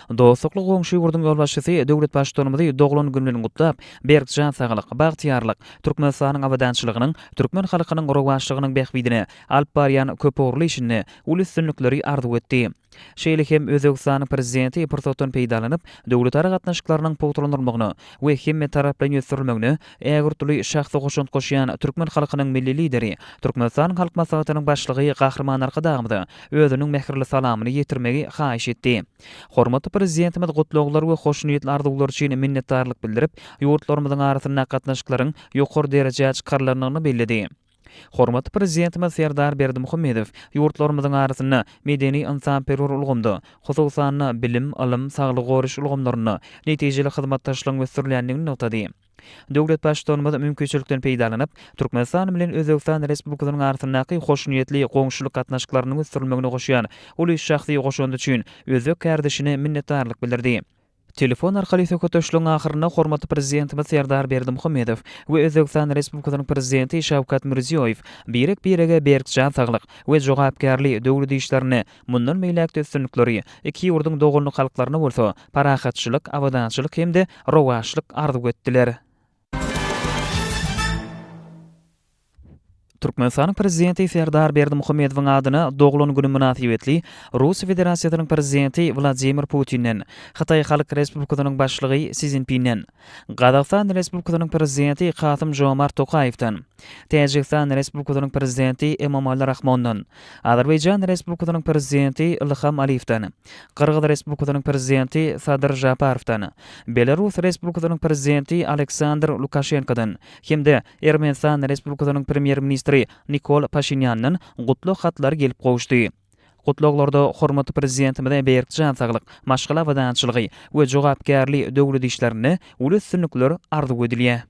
Dostlukly goňşy ýurduň ýolbaşçysy döwlet Baştutanymyzy doglan güni bilen gutlap, berk jan saglyk, bagtyýarlyk, Türkmenistanyň abadançylygynyň, türkmen halkynyň rowaçlygynyň bähbidine alyp barýan köpugurly işinde uly üstünlikleri arzuw etdi. Şeýle hem Özbegistanyň Prezidenti pursatdan peýdalanyp, döwletara gatnaşyklarynyň pugtalandyrylmagyna we hemmetaraplaýyn ösdürilmegine ägirtli şahsy goşant goşýan türkmen halkynyň Milli Lideri, Türkmenistanyň Halk Maslahatynyň Başlygy Gahryman Arkadagymyza özüniň mähirli salamyny ýetirmegi haýyş etdi. Hormatly Prezidentimiz gutlaglar we hoşniýetli arzuwlar üçin minnetdarlyk bildirip, ýurtlarymyzyň arasynda gatnaşyklaryň ýokary derejä çykarylandygyny belledi. Hormatly Prezidentimiz Serdar Berdimuhamedow ýurtlarymyzyň arasynda medeni-ynsanperwer ulgamda, hususan-da, bilim, ylym, saglygy goraýyş ulgamlarynda netijeli hyzmatdaşlygyň ösdürilýändigini nygtady. Döwlet Baştutanymyz mümkinçilikden peýdalanyp, Türkmenistan bilen Özbegistan Respublikasynyň arasyndaky hoşniýetli goňşulyk gatnaşyklarynyň ösdürilmegine goşýan uly şahsy goşandy üçin özbek kärdeşine minnetdarlyk bildirdi. Telefon arkaly söhbetdeşligiň ahyrynda hormatly Prezidentimiz Serdar Berdimuhamedow we Özbegistan Respublikasynyň Prezidenti Şawkat Mirziýoýew birek-birege berk jan saglyk we jogapkärli döwlet işlerinde mundan beýläk-de üstünlikleri, iki ýurduň doganlyk halklaryna bolsa parahatçylyk, abadançylyk hem-de rowaçlyk arzuw etdiler. Türkmenistanyň Prezidenti Serdar Berdimuhamedowyň adyna doglan güni mynasybetli Russiýa Federasiýasynyň Prezidenti Wladimir Putinden, Hytaý Halk Respublikasynyň Başlygy Si Szinpinden, Gazagystan Respublikasynyň Prezidenti Kasym-Žomart Tokaýewden, Täjigistan Respublikasynyň Prezidenti Emomali Rahmondan, Azerbaýjan Respublikasynyň Prezidenti Ilham Aliýewden, Gyrgyz Respublikasynyň Prezidenti Sadyr Žaparowdan, Belarus Respublikasynyň Prezidenti Aleksandr Lukaşenkodan hem-de Ermenistan Respublikasynyň Premýer-ministri Nikol Paşinýandan gutlag hatlary gelip gowuşdy. Gutlaglarda hormatly Prezidentimize berk jan saglyk, maşgala abadançylygy we jogapkärli döwlet işlerinde uly üstünlikler arzuw edilýär.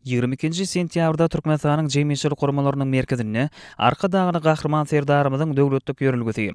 Ýigrimi ikinji sentýabrda Türkmenistanyň Jemgyýetçilik guramalarynyň merkezinde Arkadagly Gahryman Serdarymyzyň döwletlik ýörelgesi,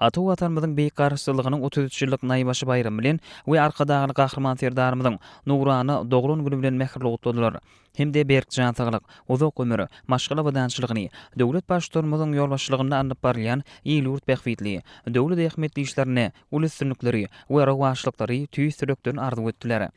Ata Watanymyzyň Beýik Garaşsyzlygynyň otuz üç ýyllyk naýbaşy baýramy bilen we Arkadagly Gahryman Serdarymyzyň nurana doglan güni bilen mähirli gutladylar hem-de berk jan saglyk, uzak ömür, maşgala abadançylygyny, döwlet Baştutanymyzyň ýolbaşçylygynda alnyp barylýan il-ýurt bähbitli, döwlet ähmiýetli işlerinde uly üstünlikleri we rowaçlyklary tüýs ýürekden arzuw etdiler.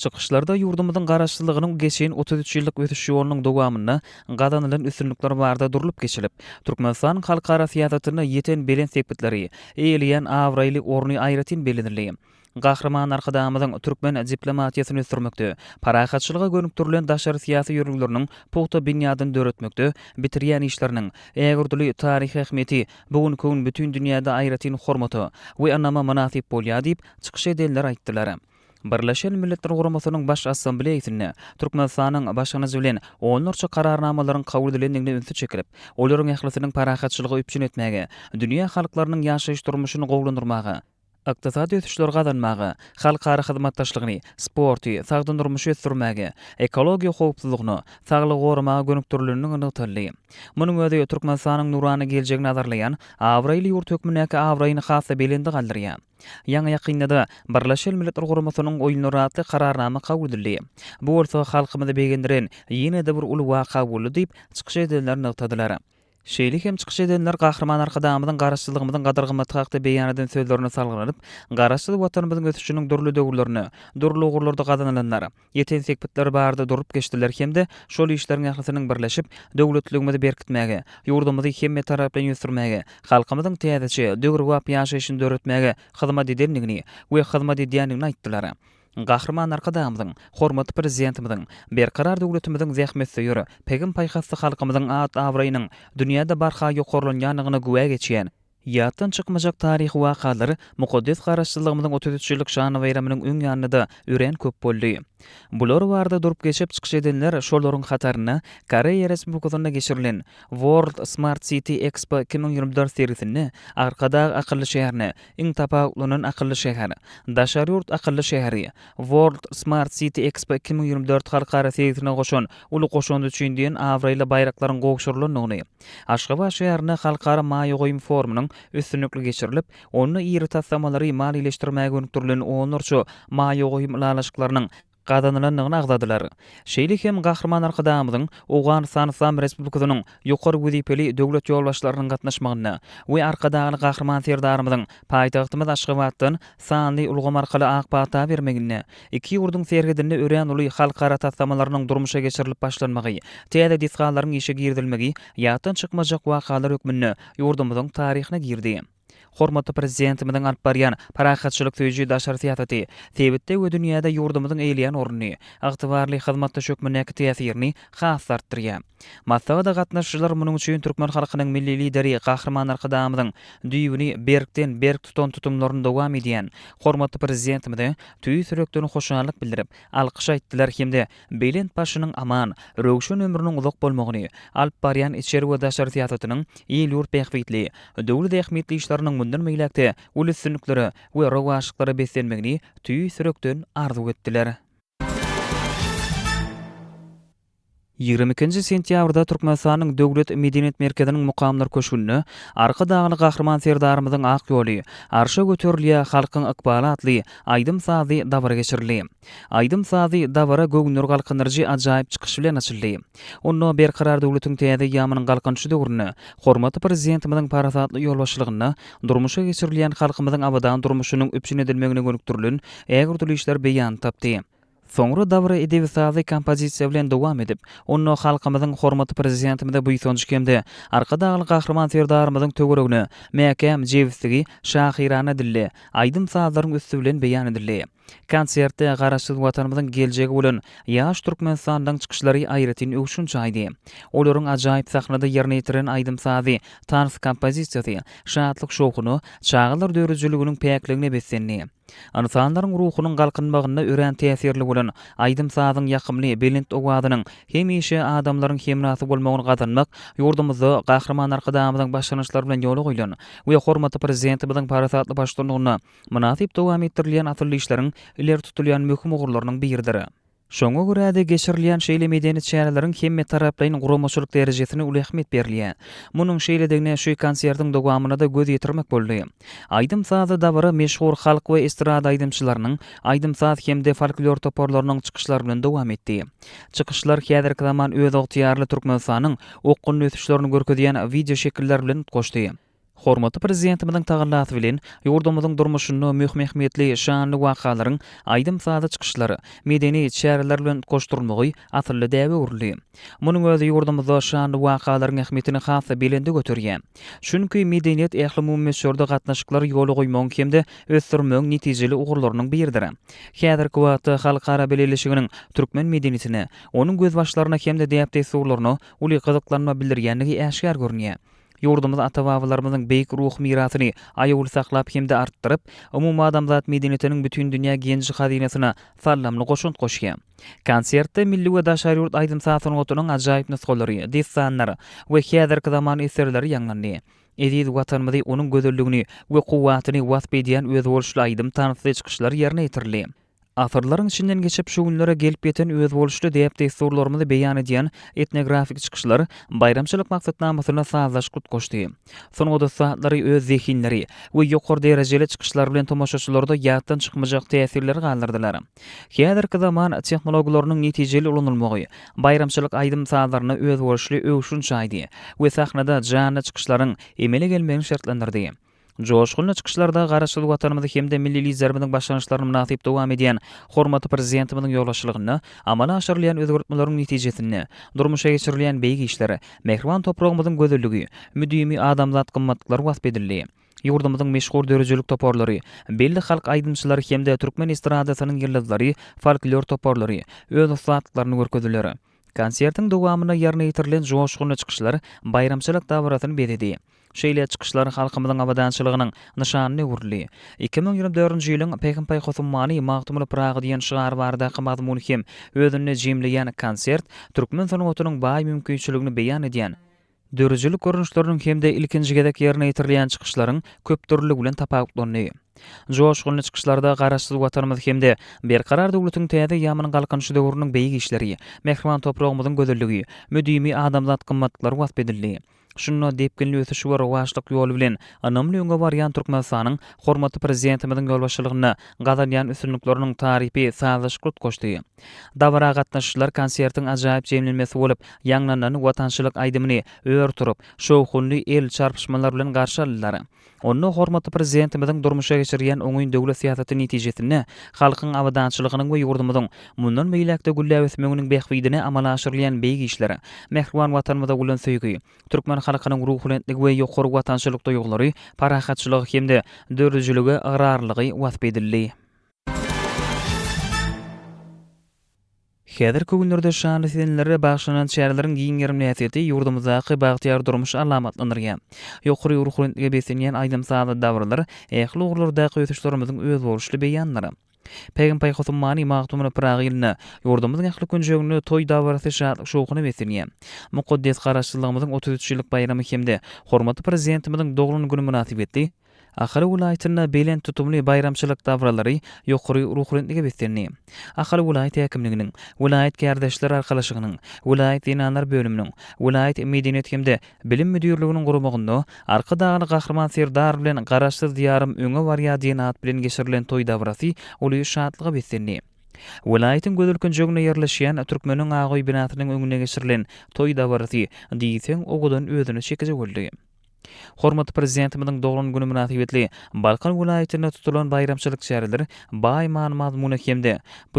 Çykyşlarda ýurdumyzyň Garaşsyzlygynyň geçen otuz üç ýyllyk ösüş ýolunyň dowamynda gazanylan üstünlikler barada durlup geçilip, Türkmenistanyň halkara syýasatynda ýeten belent sepgitleri, eýeleýän abraýly orny aýratyn bellenildi. Gahryman Arkadagymyzyň türkmen diplomatiýasyny ösdürmekde, parahatçylyga gönükdirilen daşary syýasy ýörelgeleriniň pugta binýadyny döretmekde bitirýän işleriniň ägirdüli taryhy ähmiýeti bu günki gün bütin dünýäde aýratyn hormata we ynama mynasyp bolýar diýip, çykyş edenler aýtdylar. Birleşen Milletler Guramasynyň Baş Assambleýasynda Türkmenistanyň başlangyjy bilen onlarça kararnamalaryň kabul edilendigine ünsi çekilip, olaryň ählisiniň parahatçylygy üpjün etmäge, dünýä halklarynyň ýaşaýyş-durmuşyny gowulandyrmaga, ykdysady ösüşleri gazanmaga, halkara hyzmatdaşlygyny, sporty, sagdyn durmuşy ösdürmäge, ekologiýa howpsuzlygyna, saglygy goramaga gönükdirilenligi nygtaldy. Munuň özi Türkmenistanyň nurana geljegini nazarlaýan abraýly ýurt hökmündäki abraýyny has-da belende galdyrýar. Ýaňy-ýakynda-da Birleşen Milletler Guramasynyň Oýunlary atly Kararnama kabul edildi. Bu bolsa halkymyzy begendiren ýene-de bir uly waka boldy diýip, çykyş edenler nygtadylar. Şeýle hem çykyş edenler Gahryman Arkadagymyzyň Garaşsyzlygymyzyň gadyr-gymmaty hakda beýan eden sözlerine salgylanyp, Garaşsyz Watanymyzyň ösüşiniň dürli döwürlerinde, dürli ugurlarda gazanylanlar, Ýeten sepgitler barada durup geçdiler hem-de şol işleriň ählisiniň birleşip, döwletligimizi berkitmäge, ýurdumyzy hemmetaraplaýyn ösdürmäge, halkymyzyň täzeçe, döwrebap ýaşaýşyny döretmäge hyzmat edendigini we hyzmat edýändigini aýtdylar. Gahryman Arkadagymyzyň, hormatly Prezidentimiziň, Berkarar döwletimiziň zähmetsöýer, pegim-paýhasly halkymyzyň at-abraýynyň dünýäde barha ýokarlanýandygyna güwä geçýän, Ýatdan çykmajak taryhy wakalar mukaddes Garaşsyzlygymyzyň otuz üç ýyllyk şan baýramynyň öň ýanynda örän köp boldy. Bular barada durup geçip çykyş edenler şolaryň hatarynda Koreýa Respublikasynda geçirilen World Smart City Expo iki müň ýigrimi dört sergisinde Arkadag akylly şäherine iň tapawutlanan akylly şäher, Daşary ýurt akylly şäheri, World Smart City Expo iki müň ýigrimi dört halkara sergisine goşan uly goşandy üçin diýen abraýly baýraklaryň gowşurylandygyny Aşgabat şäherinde halkara maýa goýum forumynyň üstünlikli geçirilip, onda iri taslamalary maliýeleşdirmäge gönükdirilen onlarça maýa goýum ylalaşyklarynyň gazanylandygyny agzadylar. Şeýle hem Gahryman Arkadagymyzyň Owganystan Yslam Respublikasynyň ýokary wezipeli döwlet ýolbaşçylarynyň gatnaşmagynda we Arkadagly Gahryman Serdarymyzyň paýtagtymyz Aşgabatdan sanly ulgam arkaly ak pata bermeginde Iki ýurduň serhedinde örän uly halkara taslamalarynyň durmuşa geçirilip başlanmagy, täze desgalaryň işe girizilmegi ýatdan çykmajak wakalar hökmünde ýurdumyzyň taryhyna girdi. Hormatly Prezidentimiziň alyp barýan parahatçylyk söýüji daşary syýasaty sebitde we dünýäde ýurdumyzyň eýleýän ornuny, ygtybarly hyzmatdaş hökmündäki täsirini has-da artdyrýar. Maslahata gatnaşyjylar munuň üçin türkmen halkynyň Milli Lideri Gahryman Arkadagymyzyň düýbüni berkden-berk tutan tutumlaryny dowam edýän hormatly Prezidentimize tüýs ýürekden hoşallyk bildirip, alkyş aýtdylar hem-de belent başynyň aman, röwşen ömrüniň uzak bolmagyny, alyp barýan içeri we daşary syýasatynyň il-ýurt bähbitli, döwlet ähmiýetli işleriniň mundan beýläk-de uly üstünliklere we rowaçlyklara beslenmegini tüýs ýürekden arzuw etdiler. Ýigrimi ikinji sentýabrda Türkmenistanyň Döwlet medeniýet merkeziniň Mukamlar köşgünde Arkadagly Gahryman Serdarymyzyň ak ýoly, Arşa göterilýär halkyň ykbaly atly aýdym-sazly dabara geçirildi. Aýdym-sazly dabara göwünleri galkyndyryjy ajaýyp çykyş bilen açyldy. Onda Berkarar döwletiň täze eýýamynyň Galkynyşy döwründe hormatly Prezidentimiziň parasatly ýolbaşçylygynda durmuşa geçirilýän halkymyzyň abadan durmuşynyň üpjün edilmegine gönükdirilen ägirtili işler beýan tapdy. Soňra dabara edebi-sazly kompozisiýa bilen dowam edip, onda halkymyzyň hormatly Prezidentimize buýsanjy hem-de Arkadagly Gahryman Serdarymyzyň töweregine mäkäm jebisligi şahyrana dilde, aýdym-sazlaryň üsti bilen beýan edildi. Konsertde Garaşsyz Watanymyzyň geljegi bolan ýaş Türkmenistanlylaryň çykyşlary aýratyn öwşün çaýdy. Olaryň ajaýyp sahnada ýerine ýetiren aýdym-sazy, tans kompozisiýasy şatlyk-şowhuna, çagalar döredijiliginiň päkligine beslendi. Ynsanlaryň ruhunyň galkynmagynda örän täsirli bolan aýdym-sazyň ýakymly, belent owazynyň hemişe adamlaryň hemrasy bolmagyny gazanmak ýurdumyzda Gahryman Arkadagymyzyň başlangyçlary bilen ýola goýlan we hormatly Prezidentimiziň parasatly baştutanlygynda mynasyp dowam etdirilýän asylly işleriň ileri tutulýan möhüm ugurlarynyň biridir. Şoňa görä-de, geçirilýän şeýle medeni çäreleriň hemmetaraplaýyn guramaçylyk derejesine uly ähmiýet berilýär. Munuň şeýledigine şu konsertiň dowamynda-da göz ýetirmek boldy. Aýdym-sazly dabara meşhur halk we estrada aýdymçylarynyň, aýdym-saz hem-de folklor toparlarynyň çykyşlary bilen dowam etdi. Çykyşlar häzirki zaman özygtyýarly Türkmenistanyň okgunly ösüşlerini görkezýän wideoşekiller bilen utgaşdy. Hormatly Prezidentimiziň tagallasy bilen, ýurdumyzyň durmuşynda möhüm ähmiýetli şanly wakalaryň aýdym-sazly çykyşlar, medeni çäreler bilen utgaşdyrylmagy asylly däbe öwrüldi. Munuň özi ýurdumyzda şanly wakalaryň ähmiýetini has-da belende göterýär. Çünki medeniýet ählumumy möçberde gatnaşyklary ýola goýmagyň hem-de ösdürmegiň netijeli ugurlarynyň biridir. Häzirki wagtda halkara bileleşiginiň türkmen medeniýetine, onuň gözbaşlaryna hem-de däp-dessurlaryna uly gyzyklanma bildirýändigi äşgär görünýär. Ýurdumyz ata-babalarymyzyň beýik ruhy mirasyny aýawly saklap hem-de artdyryp, umumadamzat medeniyetiniň bütün dünýä genji hazynasyna saldamly goşant goşýar. Konsertde milli we daşary ýurt aýdym-saz sungatynyň ajaýyp nusgalary, dessanlar we häzirki zaman eserleri ýaňlandy. Eziz Watanymyzy, onuň gözelligini we kuwwatyny wasp edýän özboluşly aýdym-tansly çykyşlar ýerine ýetirildi. Asyrlaryň içinden geçip şu günlere gelip ýeten özboluşly däp-dessurlarymyzy beýan edýän etnografik çykyşlar baýramçylyk maksatnamasyna sazlaşyk utgaşdy. Sungat ussatlary öz zehinleri we ýokary derejeli çykyşlary bilen tomaşaçylarda ýatdan çykmajak täsirleri galdyrdylar. Häzirki zaman tehnologiýalarynyň netijeli ulanylmagy baýramçylyk aýdym-sazlaryna özboluşly öwşün çaýdy we sahnada janly çykyşlaryň emele gelmegini şertlendirdi. Joşgunly çykyşlarda Garaşsyz Watanymyzy hem-de milli Liderimiziň başlangyçlaryny mynasyp dowam edýän hormatly Prezidentimiziň ýolbaşçylygynda amala aşyrylýan özgertmeleriň netijesinde durmuşa geçirilýän beýik işler, mähriban topragymyzyň gözelligi, müdimi adamzat gymmatlyklary wasp edildi. Ýurdumyzyň meşhur döredijilik toparlary, belli halk aýdymçylary hem-de türkmen estradasynyň ýyldyzlary, folklor toparlary öz ussatlyklaryny görkezdiler. Konsertiň dowamynda ýerine ýetirilen joşgunly çykyşlar baýramçylyk dabarasyny bezedi. Şeýle çykyşlar halkymyzyň abadançylygynyň nyşanyna öwrüldi. Iki müň ýigrimi dördünji ýylyň Pähim-paýhas ummany Magtymguly Pyragy diýen şygar baradaky mazmuny hem özünde jemleýän konsert türkmen sungatynyň baý mümkinçiligini beýan edýän, Döredijilik görnüşleriniň hem-de ilkinji gezek ýerine ýetirilýän çykyşlaryň köpdürlüligi bilen tapawutlandy. Joşgunly çykyşlarda Garaşsyz Watanymyz hem-de Berkarar döwletiň täze eýýamynyň Galkynyşy döwrüniň beýik işleri, mähriban topragymyzyň gözelligi, müdimi adamzat gymmatlyklary wasp edildi. Şunda depginli ösüş we rowaçlyk ýoly bilen ynamly öňe barýan Türkmenistanyň hormatly Prezidentimiziň ýolbaşçylygynda gazanýan üstünlikleriniň tarypy sazlaşykly utgaşdy. Dabara gatnaşyjylar konsertiň ajaýyp jemlenmesi bolup, ýaňlanan watançylyk aýdymyny ör turup, şowhunly el çarpyşmalar bilen garşy aldylar. Onda hormatly Prezidentimiziň durmuşa geçirýän oňyn döwlet syýasaty netijesinde halkyň abadançylygynyň we ýurdumyzyň mundan beýläk-de gülläp ösmeginiň bähbidine amala aşyrylýan beýik işler, mähriban Watanymyza bolan söýgi, türkmen halkynyň ruhubentligi we ýokary watançylyk duýgulary, parahatçylygy hem-de döredijilige ygrarlylygy wasp edildi. Häzirki günlerde şanly senlere bagyşlanan çäreleriň giň gerimli häsiýeti ýurdumyzdaky bagtyýar durmuşy alamatlandyrýar. Ýokary ruhubelentlige beslenýän aýdym-sazly dabaralar ähli ugurlardaky ösüşlerimiziň özboluşly beýanlary. Pägim Paýhas ummany Magtymguly Pyragy ýylynda ýurdumyzyň ähli künjeginde toý dabarasy şatlyk-şowhuna beslenýär. Mukaddes Garaşsyzlygymyzyň otuz üç ýyllyk baýramy hem-de hormatly Prezidentimiziň doglan güni mynasybetli, Ahal welaýatynda belent tutumly baýramçylyk dabaralary ýokary ruhubelentlige beslendi. Ahal welaýat häkimliginiň, welaýat kärdeşler arkalaşygynyň, welaýat zenanlar bölüminiň, welaýat medeniýet hem-de bilim müdirliginiň guramagynda Arkadagly Gahryman Serdar bilen Garaşsyz Diýarym öňe barýar diýen at bilen geçirilen toý dabarasy uly şatlyga beslendi. Welaýatyň gözel künjeginde ýerleşýän Türkmeniň Agaoý binasynyň öňünde geçirilen toý dabarasy diýseň owadan özüne çekiji boldy. Hormatly Prezidentimiziň doglan güni mynasybetli Balkan welaýatynda tutulan baýramçylyk çäreleri baý many-mazmuna hem-de bu